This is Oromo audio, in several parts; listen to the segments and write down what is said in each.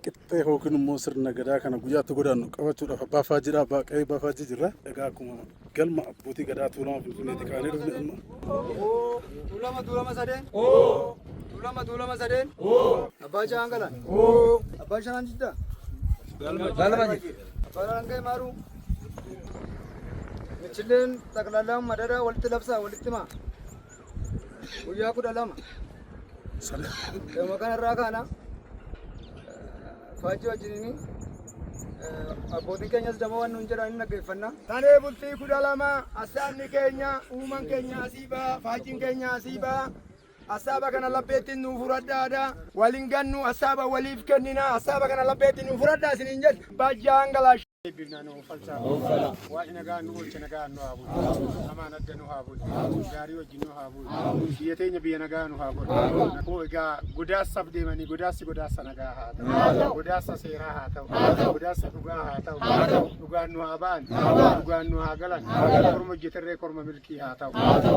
Qixxee yookiin immoo sirna gadaa kana guyyaatti godaannu qabachuudhaaf abbaa faajjii dha. Abbaa qe'ee abbaa faajjii jirra. Egaa akkuma galma abbootii gadaa tuulama finfinneetti kaanee dhufne amma. Tuulama tuulama sadeen. Tuulama tuulama sadeen. Abbaa Jahaan Galaan. Abbaa Jahaan Jiddaa. Galma jira. Abbaa Rangee Maaruu. Michilleen xaqlaallaan madadaa walitti labsaa walitti himaa. guyyaa kudha lama dhuma kanarraa kaana faajjii wajjiniin abbootiin keenyas dama waan nuun jedhan hin dhaggeeffanna. Tanee bultii kudha lama assaanni keenya uuman keenya asii ba'a faajjiin keenya asii ba'a. Assaaba kana labbeetti nu furadhaadha. Waliin gannu assaaba waliif kennina assaaba kana labbeetti nu furadhaa isiniin jedhe. Bajjaan galaash. Eebbifnaa nu uffalchaa. Waaqni nagaa nu oolcha nagaa nu haa bulu. Hamaan adda nu haa bulu. Gaarii wajjin nu haa bulu. Biyya teenya biyya nagaa nu haa godhu. Koo egaa godaassaaf deemanii godaassi godaassa nagaa haa ta'u. Godaassa seeraa haa ta'u. Godaassa dhugaa haa ta'u. Dhugaan nu haa ba'an. Dhugaan nu haa galan. Korma hojjeterree korma milkii haa ta'u.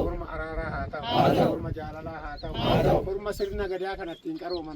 Korma araaraa haa ta'u. Korma jaalalaa haa ta'u. Korma sirna gadaa kanattiin qarooman.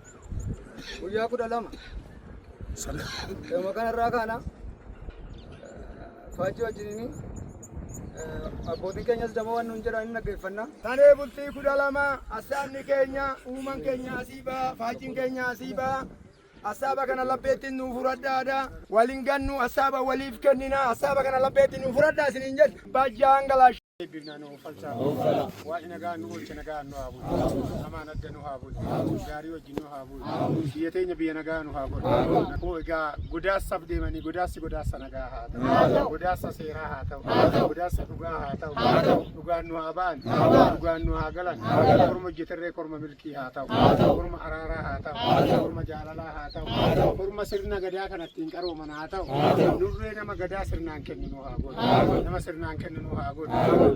guyyaa kudha lama dhuma kanarraa kaana faajjii wajjiniin abbootiin keenyas dama waan nuun jedhan hin dhaggeeffanna. Tanee bultii kudha lama assaabni keenya uuman keenya asii ba'a faajjiin keenya asii ba'a. Assaaba kana lapheettiin nuu fudhadhaa aadaa waliin gannu assaaba waliif kennina assaaba kana lapheettiin nuu fudhadhaa isiniin jedhu. Bajjaan galaash. Eebbifnaa nu uffalchaa. Waaqni nagaa nu oolche nagaa nu haa bulu. Hamaan adda nu haa bulu. Gaarii wajjin nu haa bulu. Biyya teenya biyya nagaa nu haa godhu. Koo egaa godaassaaf deemanii godaassi godaassa nagaa haa ta'u. Godaassa seeraa haa ta'u. Godaassa dhugaa haa ta'u. Dhugaan nu haa ba'an. Dhugaan nu haa galan. Korma hojjeterree korma milkii. Kii haa ta'u. Haa ta'u. Horma araaraa haa ta'u. Haa ta'u. Horma jaalalaa haa ta'u. Haa ta'u. Horma sirna gadaa kana ittiin qarooman haa ta'u. Haa ta'u. Nurree nama gadaa sirnaan kenninu haa godhu. Haa godhu. Nama sirnaan kenninu haa godhu. Haa godhu.